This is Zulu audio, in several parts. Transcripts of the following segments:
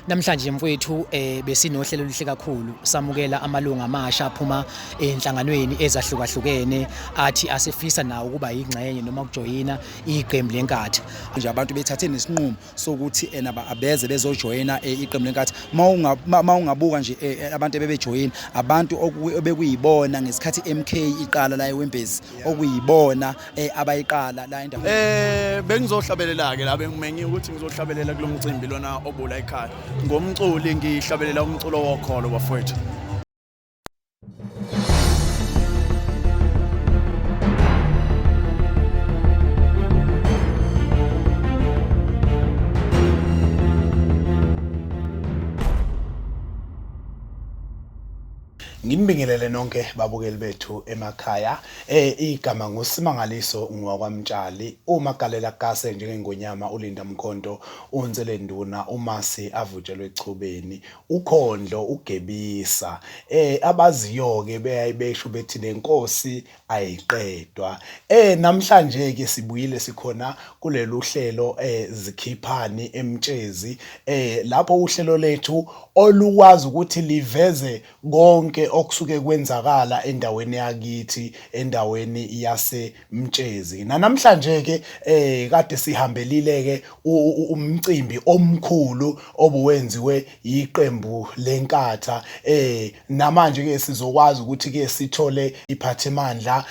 Namhlanje mfowethu eh besinohlelo oluhle kakhulu samukela amalunga amasha aphuma enhlanganweni ezahlukahlukene athi asifisa nawo ukuba yingxenye noma ukujoyina iqembu lenkathi nje abantu bethathe nesinqumo sokuthi ena eh, baabeze bezojoyina eh, iqembu lenkathi mawungabuka nje eh, abantu ebebejoyina abantu obekuyibona ngesikhathi MK iqala la eWembezi okuyibona eh, abayiqala la endaweni eh bengizohlabelela ke la bengimenye ukuthi ngizohlabelela kulomcimbi lona obula ekhaya ngomculi ngihlabelela umculo wokholo bafowethu Nginibingelele nonke babukeli bethu emakhaya. Eh igama nguSimangaliso ngwakwamtshali. Uma galela kase njengengonyama uLinda Mkhonto untsele nduna umasi avutshelwe echubeni. Ukhondlo ugebisa. Eh abaziyoke beyayibesho bethi lenkosi ayiqedwa. Eh namhlanje ke sibuyile sikhona kuleli uhlelo eh zikhiphani emtshezi eh lapho uhlelo lethu olukwazi ukuthi liveze konke okusuke kwenzakala endaweni yakithi endaweni yasemtshezi. Nanamhlanje ke eh kade sihambelile ke umcimbi omkhulu obuwenziwe yiqembu leNkatha eh namanje ke sizokwazi ukuthi ke sithole iphathimandla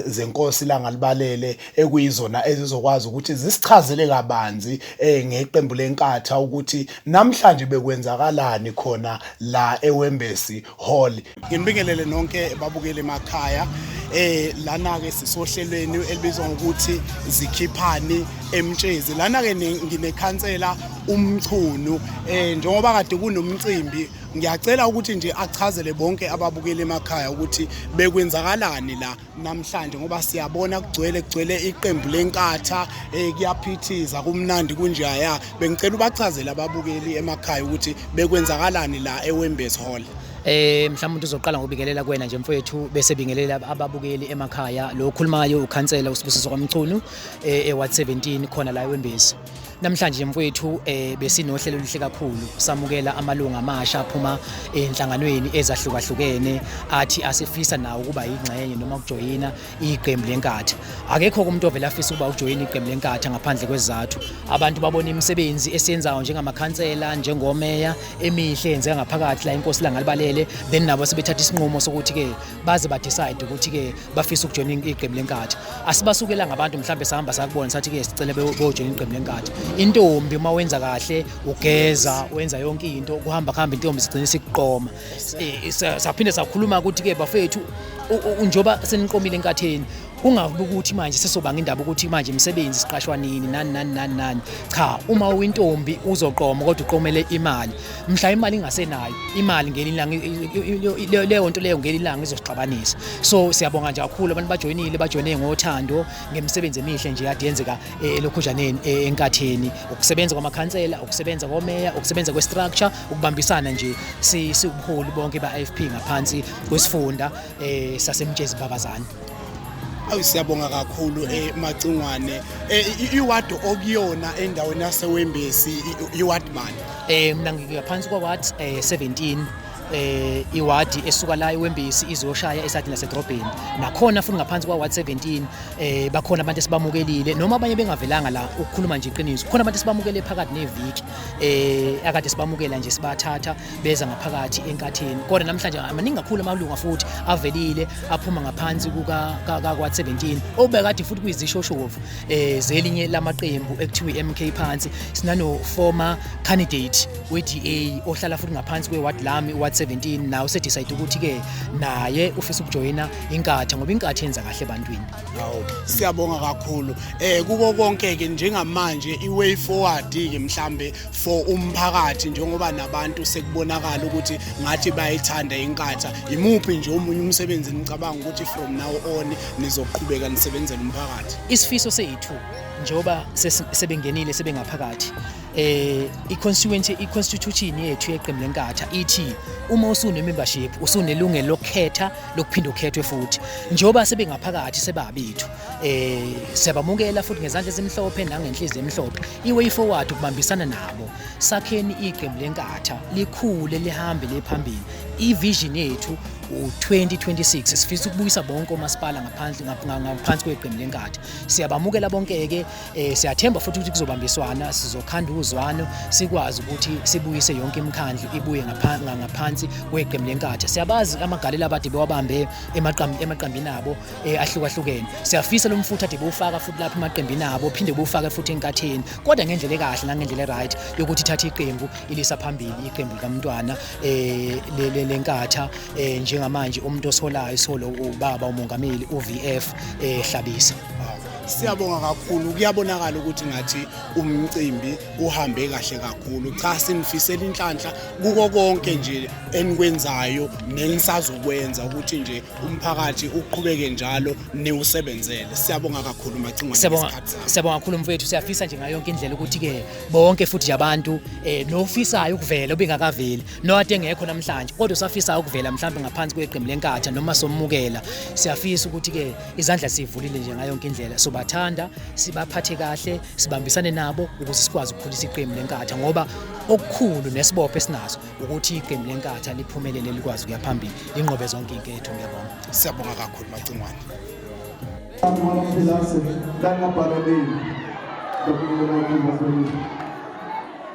zenkosi langalibalele ekuyizona ezizokwazi ukuthi zisichazele kabanzi eh ngeqembu leNkatha ukuthi namhlanje bekwenzakalani khona la eWembesi Hall Nginibingelele nonke babukele emakhaya eh lana ke sisohlelweni elibizwa ngokuthi zikhiphani emtshezi lana ke nginekhansela umchunu eh njengoba kade kunomcimbi ngiyacela ukuthi nje achazele bonke ababukeli emakhaya ukuthi bekwenzakalani la namhlanje ngoba siyabona kugcwele kugcwele iqembu lenkatha eh kuyaphithiza kumnandi kunjeya ya bengicela ubachazele ababukeli emakhaya ukuthi bekwenzakalani la eWembes Hall eh mhlawumbe uzoqala ngobingelela kuwena nje mfowethu bese bingelela ababukeli emakhaya lo okhulumayo ukhansela usibusiso kwamchunu eh eWard 17 khona la eWembezi Namhlanje mfowethu eh besinohlelo oluhle kakhulu samukela amalunga amasha aphuma enhlanganweni ezahlukahlukene athi asifisa nawo ukuba yingxenye noma ukujoyina iqembu lenkatha akekho umuntu ovela afisa ukuba ujoyine iqembu lenkatha ngaphandle kwezizathu abantu babona imisebenzi esiyenzayo njengamakhansela njengomeya emihle yenzeka ngaphakathi la inkosi langalibalele then nabo sebethatha isinqumo sokuthi ke baze ba decide ukuthi ke bafisa ukujoina iqembu lenkathi asibasukelanga abantu mhlawumbe sahamba sakubona sathi ke sicele bojoina iqembu lenkathi intombi uma wenza kahle ugeza wenza yonke into kuhamba kuhamba intombi sigcina sikuqoma eh, saphinde sakhuluma ukuthi ke bafethu njoba seniqomile enkatheni ungavuki ukuthi manje sesobanga indaba ukuthi manje imisebenzi siqashwa nini nani nani nani nani cha uma uyintombi uzoqoma kodwa uqomele imali mhla imali ingasenayo imali ngelilanga leyo nto leyo ngelilanga izosixabanisa so siyabonga nje kakhulu abantu bajoyinile bajoyine ngothando ngemisebenzi emihle nje yade yenzeka eh, elokhujaneni eh, enkatheni ukusebenza kwamakhansela ukusebenza komeya ukusebenza kwestructure ukubambisana nje siwubuholi bonke ba-IFP ngaphansi kwesifunda eh, sasemtshezi babazana awu siyabonga kakhulu eh, macingwane eh, iwadi okuyona endaweni yasewembesi iwadi mani eh mina ngiyaphansi kwaward eh, 17 eh iwadi esuka la iwembisi izoshaya esadini lasedrobheni nakhona futhi ngaphansi kwa ward 17 eh bakhona abantu esibamukelile noma abanye bengavelanga la ukukhuluma nje iqiniso khona abantu sibamukele phakathi neviki eh akade sibamukela nje sibathatha beza ngaphakathi enkatheni kodwa namhlanje amaningi kakhulu amalunga futhi avelile aphuma ngaphansi kuka-17 obekade futhi kuyizishoshovu um zelinye lamaqembu ekuthiwa i-mk phansi sinano-former candidate we-da ohlala futhi ngaphansi kwe-ward lami i-ward 17 naye usedicide ukuthi-ke naye ufisa ukujoyina inkatha ngoba inkatha yenza kahle ebantwini siyabonga kakhulu um kuko konke-ke njengamanje i-way forward-ke mhlambe for umphakathi njengoba nabantu sekubonakala ukuthi ngathi bayithanda inkatha yimuphi nje omunye umsebenzi nicabanga ukuthi from now on nizoqhubeka nisebenzela umphakathi isifiso sethu njengoba sebengenile sebengaphakathi eh i-constituency i-constitution yethu yeqembu lenkatha ithi uma usune-membership usunelungelo lokukhetha lokuphinde ukhethwe futhi njengoba sebengaphakathi sebabethu eh siyabamukela futhi ngezandla ezimhlophe nangenhliziyo emhlophe iway forward ukubambisana nabo sakheni iqembu lenkatha likhule lihambe lephambili ivision yethu u2026 sifisa ukubuyisa bonke omasipala ngaphansi ngaphansi kweqembu lenkatha siyabamukela bonke ke eh, siyathemba futhi ukuthi kuzobambiswana sizokhanda uzwano sikwazi ukuthi sibuyise yonke imikhandlu ibuye ngaphansi kweqembu lenkatha siyabazi amagalela abade bewabambe emaqambini abo eh, ahlukahlukene siyafisa lo mfutho ade bewufaka futhi lapha emaqembini abo phinde bewufake futhi enkatheni kodwa ngendlela ekahle nangendlela eright yokuthi ithathe iqembu ilisa phambili iqembu likamntwana eh, le- le- lenkatha eh, njengamanje umuntu osolayo solo ubaba umongameli uVF eh, Hlabisa Siyabonga kakhulu kuyabonakala ukuthi ngathi umcimbi uhambe kahle kakhulu cha sinifisela inhlanhla kuko konke nje enikwenzayo nenisazokwenza ukuthi nje umphakathi uqhubeke njalo niwusebenzele siyabonga kakhulu macingwane siyabonga kakhulu mfethu siyafisa nje ngayo yonke indlela ukuthi ke bonke futhi nje abantu um eh, nofisayo ukuvela obengakaveli noade engekho namhlanje kodwa usafisayo ukuvela mhlawumbe ngaphansi kweqembu lenkatha noma somukela siyafisa ukuthi ke izandla sivulile nje ngayo yonke indlela sobathanda sibaphathe kahle sibambisane nabo ukuze sikwazi ukukhulisa iqembu lenkatha ngoba okukhulu nesibopho esinaso ukuthi iqembu lenkatha liphumelele likwazi ukuya phambili linqobe zonke inketho ngiyabonga siyabonga kakhulu macingwane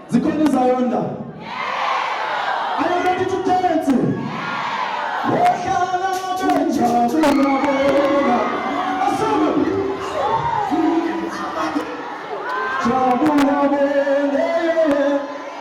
zikhona izayonda are you ready to dance wohlala benjabulabona asana jabulabona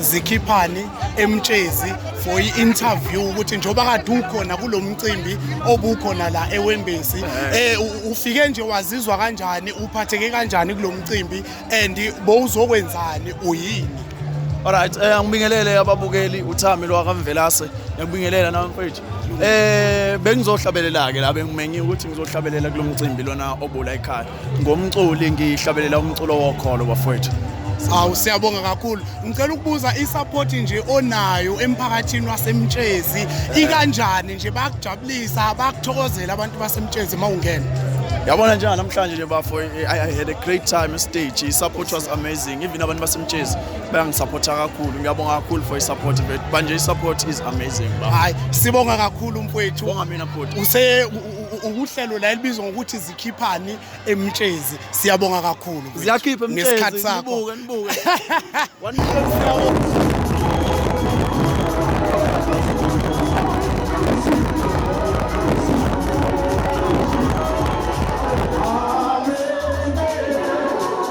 zikhiphani emtshezi for i-interview ukuthi njengoba kade ukhona kulo mcimbi obukhona la ewembesi eh, um ufike nje wazizwa kanjani uphatheke kanjani kulo mcimbi and bowuzokwenzani uyini Alright, eh angibingelele ababukeli uThami lo akamvelase. Ngiyakubingelela nawe mfethu. Eh bengizohlabelela ke la bengimenye ukuthi ngizohlabelela kulomcimbi lona obula ekhaya. ngomculi ngihlabelela umculo wokholo bafowethu awu siyabonga kakhulu ngicela ukubuza i-support nje onayo emphakathini wasemtshezi ikanjani nje bakujabulisa bakuthokozela abantu basemtshezi uma ungena yabona njani namhlanje nje bafo i had a great time stage i-support was amazing even abantu basemtshezi bayangisupporta kakhulu ngiyabonga kakhulu for i-support but manje i-support is amazing hayi sibonga kakhulu mfowethu bonga mina bhuti use uhlelo la elibizwa ngokuthi ikhiphani emtshezi siyabonga kakhulu ziyakhipha ngesikhathi sakho nibuke nibuke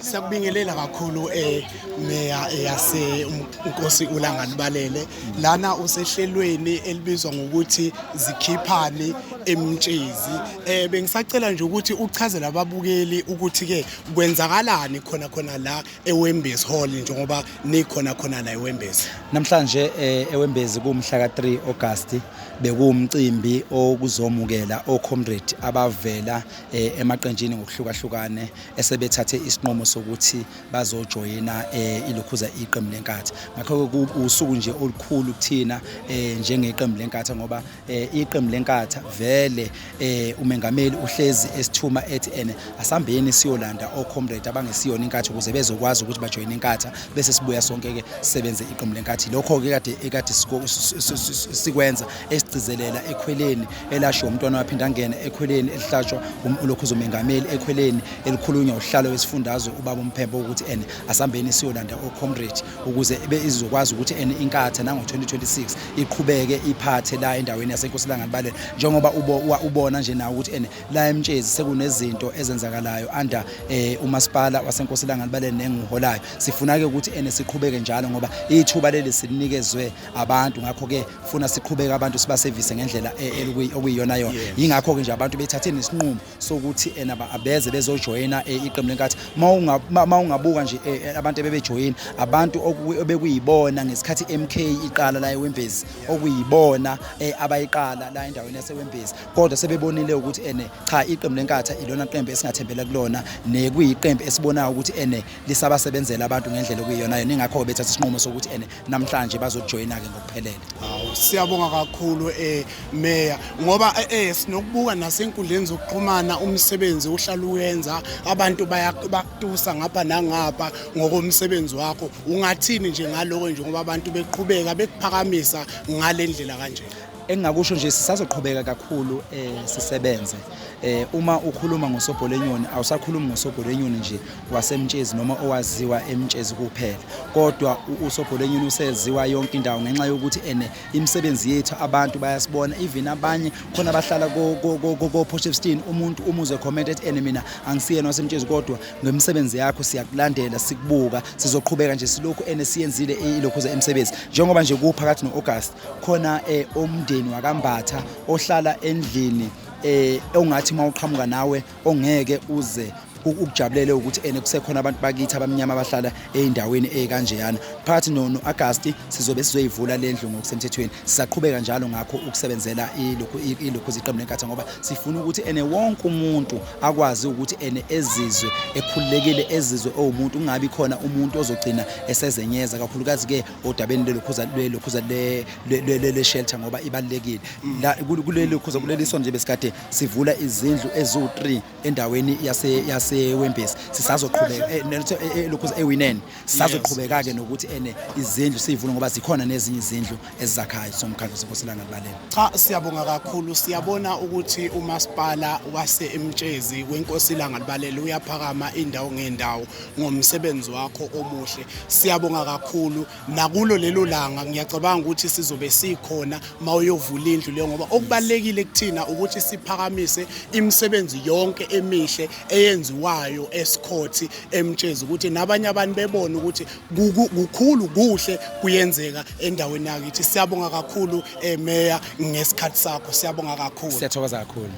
Siyakubingelela kakhulu eh meya eh, yase um, Nkosi uLangani Balele lana usehlelweni elibizwa ngokuthi zikhiphani emtshezi eh bengisacela nje ukuthi uchazele ababukeli ukuthi ke kwenzakalani khona khona la eWembezi Hall njengoba nikhona khona la eWembezi namhlanje eh, eWembezi kumhla ka 3 August bekuwumcimbi okuzomukela oComrade abavela eh, emaqenjini ngokuhlukahlukane esebethathe isinqumo sokuthi bazojoyina eh, ilokhuza iqembu lenkathi ngakho-ke usuku nje olukhulu kuthina eh, njengeqembu lenkatha ngoba eh, iqembu lenkatha vele umengameli uhlezi esithuma ethi ene asambeni siyolanda ocomrade abangesiyona inkathi ukuze bezokwazi ukuthi bajoyine inkatha bese sibuya sonke-ke sisebenze iqembu lenkathi lokho-ke kade ekade sikwenza esigcizelela ekhweleni elashiwe umntwana waphinde angene ekhweleni elihlatshwa um-, ulokhuza umengameli ekhweleni elikhulunywa uhlalo wesifundazwe ubaba umphembo ukuthi ene asambeni siyolanda ocomrade ukuze izokwazi ukuthi ene inkatha nango-2026 iqhubeke iphathe la endaweni yasenkosilanganibalele njengoba ubona nje nawo ukuthi ene la emtshezi sekunezinto ezenzakalayo under um eh, umasipala wasenkosilanganibalele nenguholayo sifuna-ke ukuthi ene siqhubeke njalo ngoba ithuba leli sinikezwe abantu ngakho-ke funa siqhubeke abantu sibasevise ngendlela e, e, okuyiyona yona yingakho-ke nje abantu bethathe nesinqumo sokuthi ena eh, abeze bezojoyina eh, iqembu lenkathi ma ungabuka nje eh, abantu ebebejoyina abantu obekuyibona ngesikhathi i-mk iqala la ewembezi okuyibona abayiqala la endaweni yasewembezi kodwa sebebonile ukuthi ene cha iqembu lenkatha ilona qembu esingathembela kulona nekuyiqembu esibonayo ukuthi ene lisabasebenzela abantu ngendlela okuyiyona yona ingakho-ke bethatha isinqumo sokuthi ene namhlanje bazojoyina-ke ngokuphelele hawu siyabonga kakhulu um eh, meya ngoba um eh, sinokubuka nasenkundleni zokuxhumana umsebenzi uhlala uwenza abantu bakutusa ngapha nangapha ngokomsebenzi wakho ungathini nje ngaloko nje ngoba abantu beqhubeka bekuphakamisa ngale ndlela kanjena Engingakusho nje sisazoqhubeka kakhulu eh sisebenze eh uma ukhuluma ngosobholenyoni awusakhulumi ngosobholenyoni nje wasemtshezi noma owaziwa emtshezi kuphela kodwa usobholenyoni useziwa yonke indawo ngenxa yokuthi ene imisebenzi yethu abantu bayasibona even abanye khona abahlala ko ko Potchefstroom umuntu umuze comment ethi ene mina angisiyena wasemtshezi kodwa ngemisebenzi yakho siyakulandela sikubuka sizoqhubeka nje silokhu ene siyenzile ilokhu ze emsebenzi njengoba nje kuphakathi no August khona eh, umndeni wakambatha ohlala endlini eh ongathi mawuqhamuka nawe ongeke uze ukujabulele ukuthi ene kusekhona abantu bakithi abamnyama abahlala ezindaweni ezikanjeyana phakathi no Augusti sizobe sizoyivula lendlu ngokusemthethweni sisaqhubeka njalo ngakho ukusebenzela ilokhu ilokhu ziqembu lenkatha ngoba sifuna ukuthi ene wonke umuntu akwazi ukuthi ene ezizwe ekhululekile ezizwe owumuntu ungabi khona umuntu ozogcina esezenyeza kakhulukazi ke odabeni lelokhuza lelokhuza le le- le- le shelter ngoba ibalekile la kul- kuleli khuza kuleli sonto nje besikade sivula izindlu eziwu3 endaweni yase yase Wembesi sisazoqhubeka eh, nelithe- eh, eh, lokhuza ewinen sisazoqhubeka ke nokuthi ene izindlu sivule ngoba zikhona nezinye izindlu ezizakhayo somkhandlu sekosilanga libaleni Cha siyabonga kakhulu siyabona ukuthi umasipala wase eMtshezi wenkosi ilanga libalele uyaphakama indawo ngendawo ngomsebenzi wakho omuhle siyabonga kakhulu nakulo lelo langa ngiyacabanga ukuthi sizobe sikhona mawuyovula indlu le ngoba okubalekile kuthina ukuthi siphakamise imisebenzi yonke emihle eyenziwayo esikhothi emtshezi ukuthi nabanye abantu bebone ukuthi kukhulu kuhle kuyenzeka endaweni yakithi siyabonga kakhulu eh, meya ngesikhathi sakho siyabonga kakhulu siyathokoza kakhulu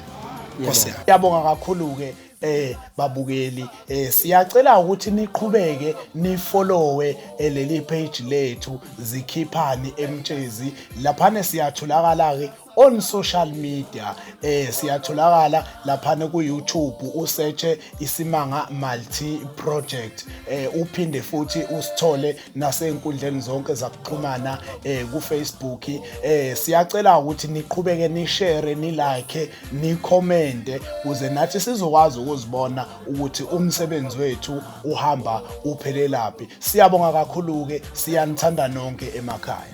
Nkosi yami. Yabonga kakhulu ke eh babukeli eh siyacela ukuthi niqhubeke nifollowe eh, leli page lethu zikhiphani emtshezi laphana siyatholakala ke on social media eh siyatholakala laphana ku YouTube usearche isimanga multi project eh uphinde futhi usithole nasey'nkundleni zonke zakuxhumana um kufacebook um siyacela ukuthi niqhubeke nishere nilike nikhomente kuze nathi sizokwazi ukuzibona ukuthi umsebenzi wethu uhamba uphelelaphi siyabonga kakhulu-ke siyanithanda nonke emakhaya